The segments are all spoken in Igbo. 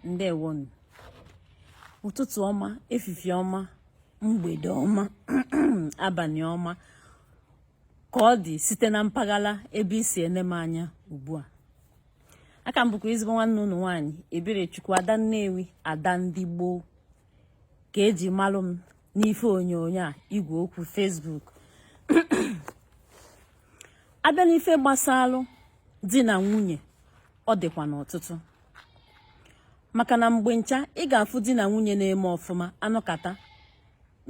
ndewonu ụtụtụ ọma efifie ọma mgbede ọma abanị ọma ka ọ dị site na mpaghara ebe i si ene m anya ugbu a aka m bụkwa ezigbo nwanne unu nwaanyị Eberechukwu ada Nnewi ada ndị gboo ka e ji malụ m n'ife onyonyo a igwe okwu Facebook a bịa n'ife gbasalụ di na nwunye ọ dịkwanụ ọtụtụ maka na mgbe ncha ị ga-afụ di na nwunye na-eme ọfụma a nọkata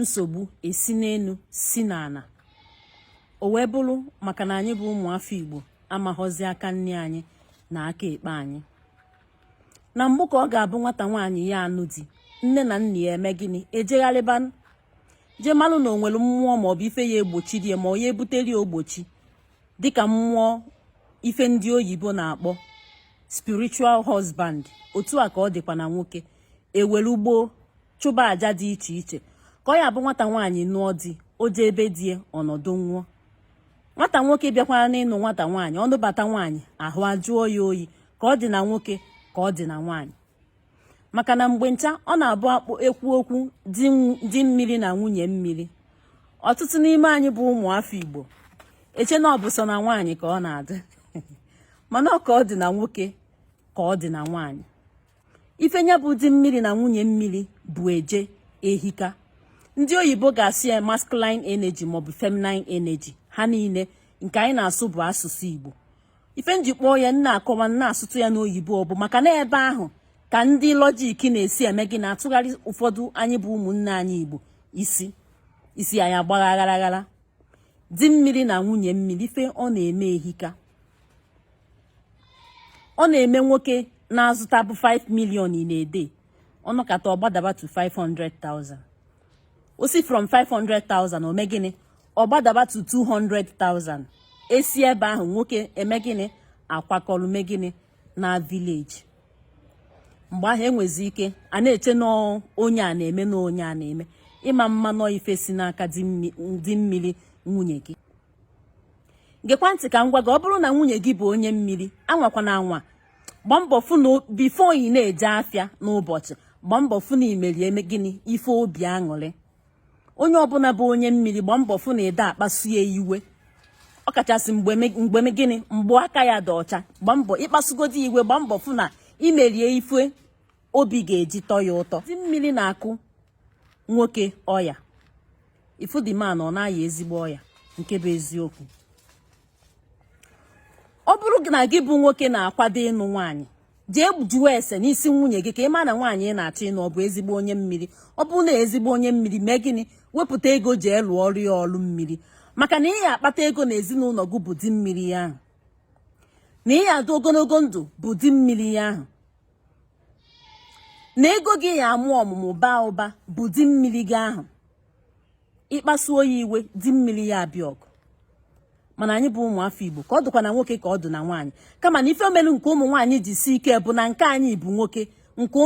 nsogbu esi n'elu si n'ana o wee bụrụ maka na anyị bụ ụmụafọ Igbo amaghọzi aka nni anyị na aka ekpe anyị na mbụ ka ọ ga-abụ nwata nwaanyị ya-anụ di nne na nna ya eme gịnị ejegharịba jee malụ na o nwere mmụọ maọbụ ife ya-egbochiri ya ma ọ ya-ebuteri ogbochi dịka mmụọ ife ndị oyibo na-akpọ spiritual husband otu a ka ọ dịkwa na nwoke e were ugbọ chụba aja dị iche iche ka ọ ya-abụ nwata nwaanyị nụọ di o jee be di ya ọ nọdụnwuo nwata nwoke bịakwanụ ịnụ nwata nwaanyị ọ nụbata nwaanyị ahụ ajụọ ya oyi ka ọ dị na nwoke ka ọ dị na nwaanyị maka na mgbe ncha ọ na-abụ a kpụ ekwu okwu di mmiri na nwunye mmiri ọtụtụ n'ime anyị bụ ụmụ afọ Igbo eche na ọ bụ sọ na nwaanyị ka ọ na-adị mana ọ ka ọ dị na nwoke ka ọ dị na nwaanyị ife nya bụ di mmiri na nwunye mmiri bu eje ehika ndị oyibo ga-asị ya masculine energy maọbụ feminine energy ha niile nke anyị na-asụ bụ asụsụ Igbo ife m ji kpọọ ya m na-akọwa m na-asụtụ ya n'oyibo ọ bụ maka na ebe ahụ ka ndị logic na-esi eme gịnị atụgharị ụfọdụ anyị bụ ụmụnne anyị Igbo isi isi anyị agbaa aghara aghara di mmiri na nwunye mmiri ife ọ na-eme ehika ọ na-eme nwoke na-azụtabu 5 million in a day ọ nọkata ọ gbadaba to 500,000 o si from 500,000 o mee gịnị ọ gbadaba to 200,000 e si ebe ahụ nwoke eme gịnị akwakọrọ mee gịnị naa village mgbe ahụ e nwezi ike na-eche na onye a na-eme na onye a na-eme ị ma ama na ọ ife si n'aka di mmiri nwunye gị gekwa ntị ka m gwa gị ọ bụrụ na nwunye gị bụ onye mmiri anwakwana anwa gbaa mbọ fụ na before ị na-eje afịa n'ụbọchị gbaa mbọ fụ na i merie mee gịnị ife obi aṅụrị onye ọbụna bụ onye mmiri gbaa mbọ fụ na ị dị akpasu ya iwe ọ kachasị mgbe gịnị mgbe aka ya dị ọcha gbaa mbọ ị kpasugodi iwe gbaa mbọ fụ na i merie ife obi ga-eji tọọ ya ụtọ di mmiri na-akụ nwoke ọya ị fụ the man ọ na-aya ezigbo ọya nke bụ eziokwu ọ bụrụ na gị bụ nwoke na-akwado ịnụ nwaanyị jee jụọ ese n'isi nwunye gị ka ị ma na nwaanyị ị na-achọ ịnụ ọ bụ ezigbo onye mmiri ọ bụ na ezigbo onye mmiri mee gịnị wepụta ego jee lụọrụ ya ọlụ mmiri maka na ị ya akpata ego na ezinụlọ gị bụ di mmiri ya ahụ na ị ya adụ ogologo ndụ bụ di mmiri ya ahụ na ego gị ya amụ ọmụmụ baa ụba bụ di mmiri gị ahụ ị kpasuo ya iwe di mmiri ya abịa ọgụ mana anyị bụ ụmụ afọ igbo ka ọ dụkwa na nwoke ka ọ dụ na nwaanyị kama na ife melu nke ụmụ nwaanyị ji sie ike bụ na nke anyị bụ nwoke nke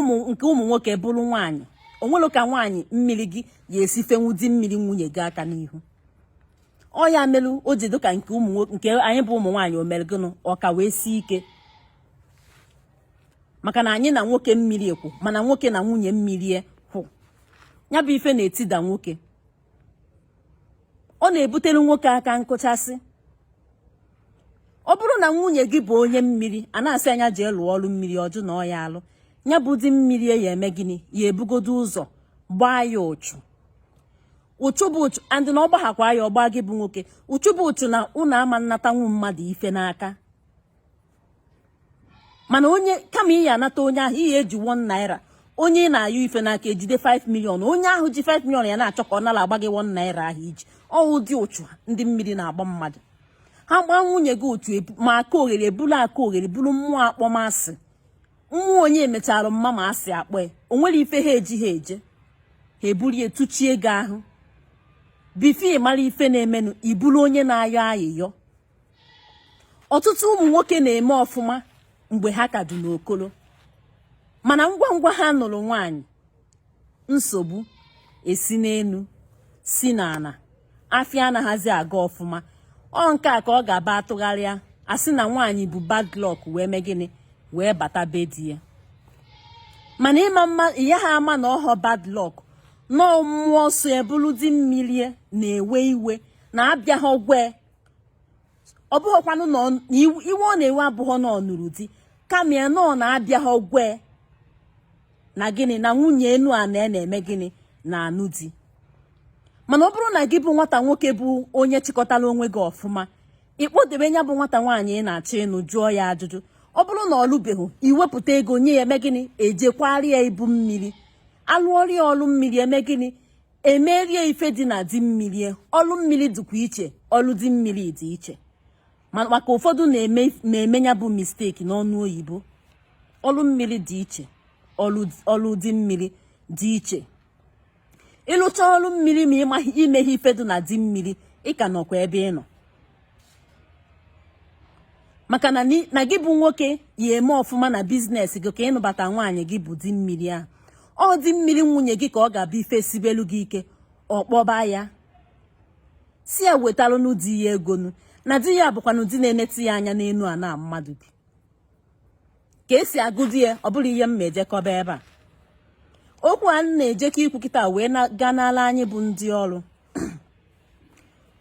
ụmụ nwoke bụrụ nwaanyị o nwelọ ka nwaanyị mmiri gị ya esi fenwu di mmiri nwunye gị aka n'ihu ọ ya melu o ji dịka nke anyị bụ ụmụ nwaanyị o mere gịnị ọ ka wee sie ike maka na anyị na nwoke mmiri kwụ mana nwoke na nwunye mmiri kwụ ya bụ ife na-etida nwoke ọ na-ebutere nwoke aka nkụchasị ọ bụrụ na nwunye gị bụ onye mmiri a na-asị ya jee lụọ ọrụ mmiri ọ jụ na ọ ya alụ ya bụ di mmiri ya eme gịnị ya ebugodo ụzọ gbaa ya uchu uchu bụ uchu and na ọ gbaghakwa ya ọ gbaa gị bụ nwoke uchu bụ uchu na ụnụ ama nnatanwu mmadụ ife n'aka mana onye kama ị ya anata onye ahụ ị ya eji 1 naira onye ị na-ayọ ife n'aka ejide 5 million onye ahụ ji 5 million ya na-achọ ka ọ narakwa gị 1 naira ahụ i ji ọ wụ ụdị uchu ndị mmiri na-agba mmadụ ha gbaa nwunye gị otu ma aka oghere bụrụ aka oghere bụrụ mmụọ akpọmasị mmụọ onye e mechara mma ma asị akpọ ya o nwere ife ha eji ha eje ha eburie tụchie gị ahụ before ị mara ife na-emenụ ị bụrụ onye na-ayọ ayịyọ ọtụtụ ụmụ nwoke na-eme ọfụma mgbe ha ka dị n'okolo mana ngwa ngwa ha nụrụ nwaanyị nsogbu esi n'elu si n'ala afịa anaghịzi aga ọfụma ọ nke a ka ọ ga-aba a tụgharịa a sị na nwaanyị bụ bad luck wee mee gịnị wee bata be di ya mana ịma mma ya ha ama na ọhọ bad luck na ọ mmụọ so ya bụlụ di mmiri na-ewe iwe na abịaghị agwa ya ọ bụghịkwanụ na iwe ọ na-ewe abụghọ na ọ nụrụ di kama ya na ọ na abịaghị agwa ya na gịnị na nwunye enu a na na-eme gịnị na-anụ di mana ọ bụrụ na gị bụ nwata nwoke bụ onye chịkọtara onwe gị ọfụma ị kpọdebe ya bụ nwata nwaanyị ị na-achọ ịnụ jụọ ya ajụjụ ọ bụrụ na ọ lụbeghị i wepụta ego nye ya eme gịnị e jee kwaara ya ibu mmiri a lụọrọ ya ọlụ mmiri eme gịnị e meere ya ife dị na di mmiri ọlụ mmiri dịkwa iche ọlụ di mmiri dị iche maka ụfọdụ na-eme ya bụ mistake n'ọnụ oyibo ọlụ mmiri dị iche ọlụ di mmiri dị iche ị lụcha ọlụ mmiri ma i meghị ife dị na di mmiri ị ka nọkwa ebe ị nọ maka na gị bụ nwoke ya eme ọfụma na biznes gị ka ị nụbata nwaanyị gị bụ di mmiri ahụ ọ di mmiri nwunye gị ka ọ ga-abụ ife sibelu gị ike ọ kpọba ya sị ya wetalụnụ di ya ego nụ na di ya bụkwanụ di na-enetụ ya anya n'elu ana mmadụ bi ka esi agụ di ya ọ bụrụ ihe m ma ejekọba ebe a okwu a na-ejekọ ikwu kịta wee gaa n'ala anyị bụ ndị ọrụ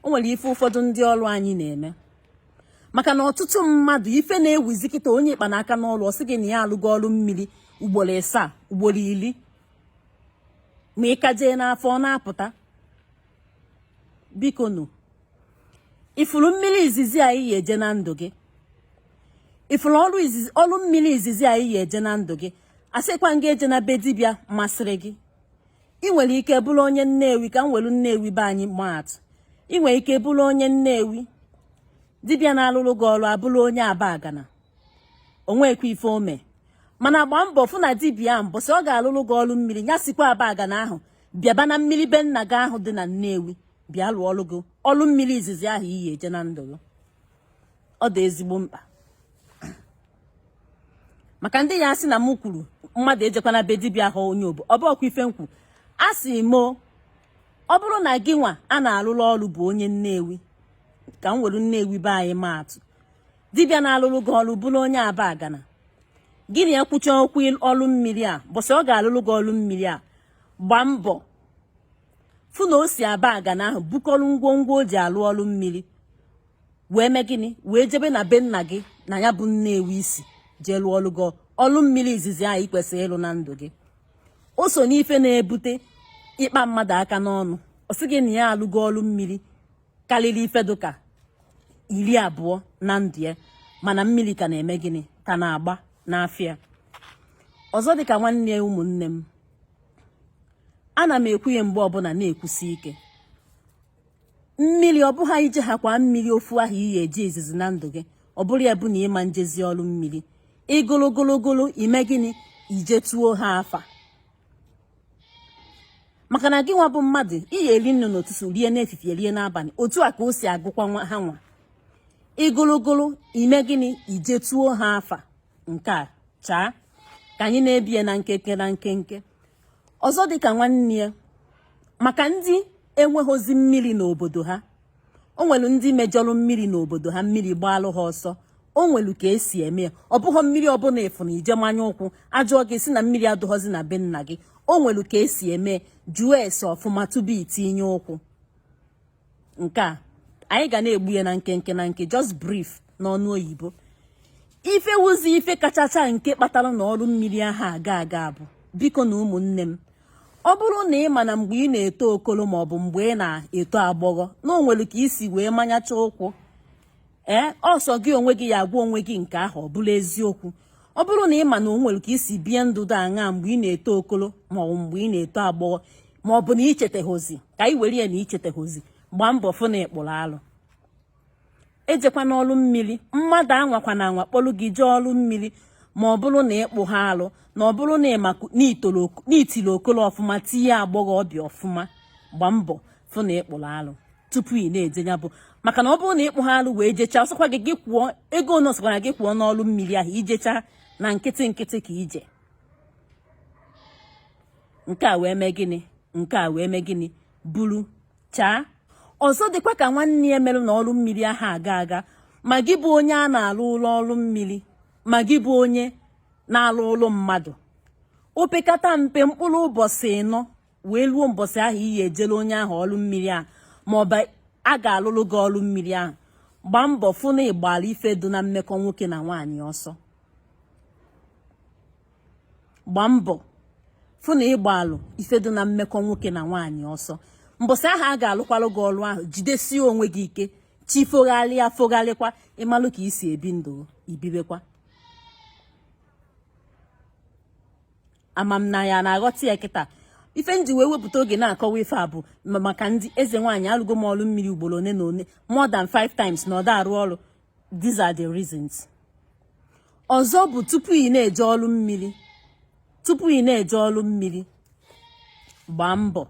o nwere ife ụfọdụ ndị ọrụ anyị na-eme maka na ọtụtụ mmadụ ife na-ewuzi kịta onye ị kpa n'aka n'ọnụ ọ sị gị na ya alụgo ọrụ mmiri ugboro ịsaa ugboro iri ma ị ka jee n'afa ọ na-apụta bikonụ ị fụrụ mmiri izizi ahụ ị ya-eje na ndụ gị ị fụrụ ọrụ mmiri izizi ahụ ị ya-eje na ndụ gị asịkwa na ị ga-eje na be dibịa masịrị gị ị nwere ike bụrụ onye nnewi ka m welu nnewi be anyị maatụ ị nwere ike bụrụ onye nnewi dibịa na-alụrụ gị ọrụ abụrụ onye abagana o nwekwa ife o me mana gbaa mbọ fụ na dibịa ahụ mbọsị ọ ga-alụrụ gị ọrụ mmiri ya sikwa abagana ahụ bịaba na mmiri be nna gị ahụ dị na nnewi bịa lụọrọ gị ọrụ mmiri izizi ahụ ị ya-eje na ndụ gị ọ dị ezigbo mkpa maka ndị ya-asị na m kwuru mmadụ ejekwana be dibịa ahụ onye obo ọ bụrọkwa ife m kwu asị m ọ bụrụ na gị nwa a na-alụrụ ọrụ bụ onye nnewi ka m were nnewi be anyị maatụ dibịa na-alụrụ gị ọrụ bụrụ onye abagana gị na ya kwụcha okwu ọrụ mmiri a mbọsị ọ ga-alụrụ gị ọrụ mmiri a gbaa mbọ fụ na o si abagana ahụ bukọrọ ngwongwo o ji alụ ọrụ mmiri wee mee gịnị wee jebe na be nna gị na ya bụ nnewi i si jee lụọlụ gị ọlụ mmiri izizi ahụ i kwesịrị ịlụ na ndụ gị o so n'ife na-ebute ị kpa mmadụ aka n'ọnụ ọ sị gị na ya alụgo ọlụ mmiri karịrị ife dụka iri abụọ na ndụ ya mana mmiri ka na-eme gịnị ka na-agba n'afa ọzọ dịka nwanne ya ụmụnne m ana m ekwu ya mgbe ọbụla na-ekwusi ike mmiri ọ bụghị ị jehakwa mmiri ofu ahụ ị ya-eje izizi na ndụ gị ọ bụrụ ya bụ na ị ma ejezi ọrụ mmiri ịgologologolo ime gịnị ijetuo ha afa maka na gị nwa bụ mmadụ ị ya-eri nni n'ụtụtụ rie n'efifie rie n'abalị otu a ka o si agụkwa ha nwa ịgologolo ime gịnị ijetuo ha afa nke a chaa ka anyị na-ebie na nkenke na nkenke ọzọ dịka nwanne ya maka ndị enweghịzi mmiri n'obodo ha o nwere ndị mejọrọ mmiri n'obodo ha mmiri gbaalụ ha ọsọ o nwere ka esi eme ya ọ bụghị mmiri ọbụla ị fụrụ i jee manye ụkwụ a jụọ gị sị na mmiri adụghọzi na be nna gị o nwere ka esi eme jụọ ese ọfụma tubu i tinye ụkwụ nke a anyị ga na-egbu ya na nkenke nke just brief n'ọnụ oyibo ife wuzi ife kachacha nke kpatara na ọrụ mmiri aha aga aga bụ bikonu ụmụnne m ọ bụrụ na ị ma na mgbe ị na-eto okolo maọbụ mgbe ị na-eto agbọghọ na o nwere ka i si wee manyacha ụkwụ ee ọ sọ gị onwe gị ya-agwa onwe gị nke ahụ ọ bụla eziokwu ọ bụrụ na ị ma na o nwere ka i si bie ndụ dị aṅa mgbe ị na-eto okolo ma ọ bụ mgbe ị na-eto agbọghọ ma ọ bụ na i chetaghịzi ka ị were ya na i chetaghịzi gbaa mbọ fụ na ị kpụrụ alụ ejekwana ọlụ mmiri mmadụ anwakwana anwa kpọlụ gị jee ọlụ mmiri ma ọ bụrụ na ị kpụha alụ na ọ bụrụ na i tiri okolo ọfụma tinye agbọghọbịa ọfụma gbaa mbọ fụ na ị kpụrụ alụ tupu ị na-eje ya bụ maka na ọ bụrụ na ị kpụha alụ wee jechaa ọ sọkwa gị gị kwụọ ego one ọ sọkwara gị kwụọ n'ọlụ mmiri ahụ i jechaa na nkịtị nkịtị ka i je nke a wee mee gịnị nke a wee mee gịnị buru chaa ọzọ dịkwa ka nwanne ya merụ na ọrụ mmiri aha aga aga ma gị bụ onye a na-alụlụ ọrụ mmiri ma gị bụ onye na-alụlụ mmadụ opekata mpe mkpụrụ mbọsị ịnọ wee ruo mbọsị ahụ ị ya-ejere onye ahụ ọrụ mmiri ahụ ma ọ bụ a ga-alụrụ gị ọrụ mmiri ahụ gbaa mbọ fụ na ị gbara ife dị na mmekọ nwoke na nwaanyị ọsọ gbaa mbọ fụ na ị gbalụ ife dị na mmekọ nwoke na nwaanyị ọsọ mbọsị ahụ a ga-alụkwalụ gị ọrụ ahụ jidesie onwe gị ike chi fogharịa fogharịkwa ị malụ ka i si ebi ndụ i bibekwa ama m na ya na-aghọta ya kịta ife m ji wee wepụta oge na-akọwa ife a bụ ma- maka ndị eze nwaanyị alụgo m ọrụ mmiri ugboro one na one more than five times na ọ da arụ ọrụ these are the reasons ọzọ bụ tupu ị na-eje ọrụ mmiri tupu ị na-eje ọrụ mmiri gbaa mbọ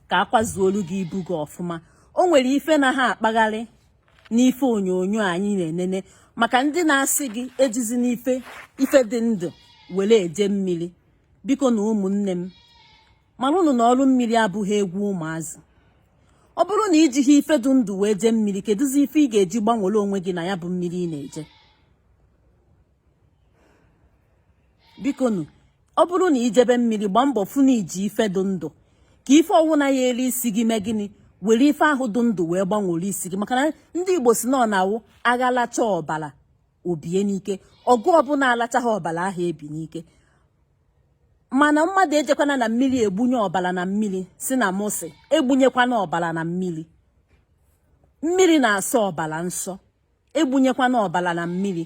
ka a kwazuolu gị ibu gị ọfụma o nwere ife na ha akpagharị n'ife onyonyo anyị na-enene maka ndị na-asị gị ejizina ife dị ndụ were eje mmiri bikonu ụmụnne m mara ụnụ na ọrụ mmiri abụha egwu ụmụazị ọ bụrụ na i jiha ife dị ndụ wee jee mmiri kedụzi ife ị ga-eji gbanwere onwe gị na ya bụ mmiri ị na-eje bikonu ọ bụrụ na i jebe mmiri gbaa mbọ fụ na i ji ife dị ndụ ka ife ọwụna ya-eri isi gị mee gịnị were ife ahụ dị ndụ wee gbanwere isi gị maka na ndị igbo si na ọ na-awụ agha lachaa ọbara o bie n'ike ọgụ ọbụla alachaghị ọbara aha ebi n'ike mana mmadụ ejekwana na mmiri egbunye ọbara na mmiri si na mụ sị egbunyekwana ọbara na mmiri mmiri na-asọ ọbara nsọ egbunyekwana ọbara na mmiri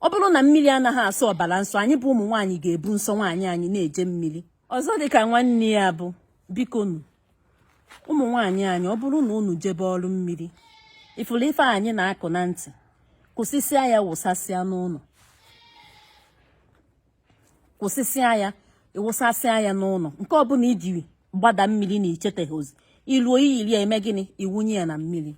ọ bụrụ na mmiri anaghị asọ ọbara nsọ anyị bụ ụmụ nwaanyị ga-ebu nsọ nwaanyị anyị na-eje mmiri ọzọ dịka nwanne ya bụ bikonu ụmụ nwaanyị anyị ọ bụrụ na unu jebe ọrụ mmiri ị fụrụ ife anyị na-akwụ na ntị kwụsịsịa ya wụsasịa n'ụlọ kwụsịsịa ya ị wụsasịa ya n'ụlọ nke ọbụla i yiri gbada mmiri na i cheteghị ozi i luo i yiri ya eme gịnị ị wụnye ya na mmiri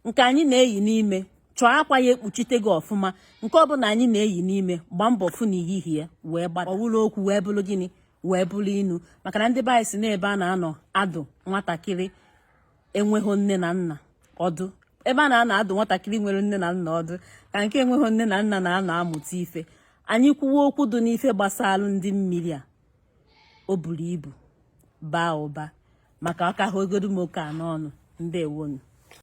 nke anyị na-eyi n'ime chọọ akwa ya ekpuchite gị ọfụma nke ọbụla anyị na-eyi n'ime gbaa mbọ fụ na i yiri ya wee gbada ọ wụrụ okwu wee bụrụ gịnị wee bụrụ inu maka na ndị be anyị sị na ebe a na-anọ adụ nwatakịrị enweghị nne na nna ọdụ ebe a na-anọ adụ nwatakịrị nwere nne na nna ọdụ ka nke enweghị nne na nna na-anọ amụta ife anyị kwuwa okwu dị n'ife gbasalụ ndị mmiri a o buru ibu baa ụba ma ka ọ ka hagodu m oke a n'ọnụ ndewonu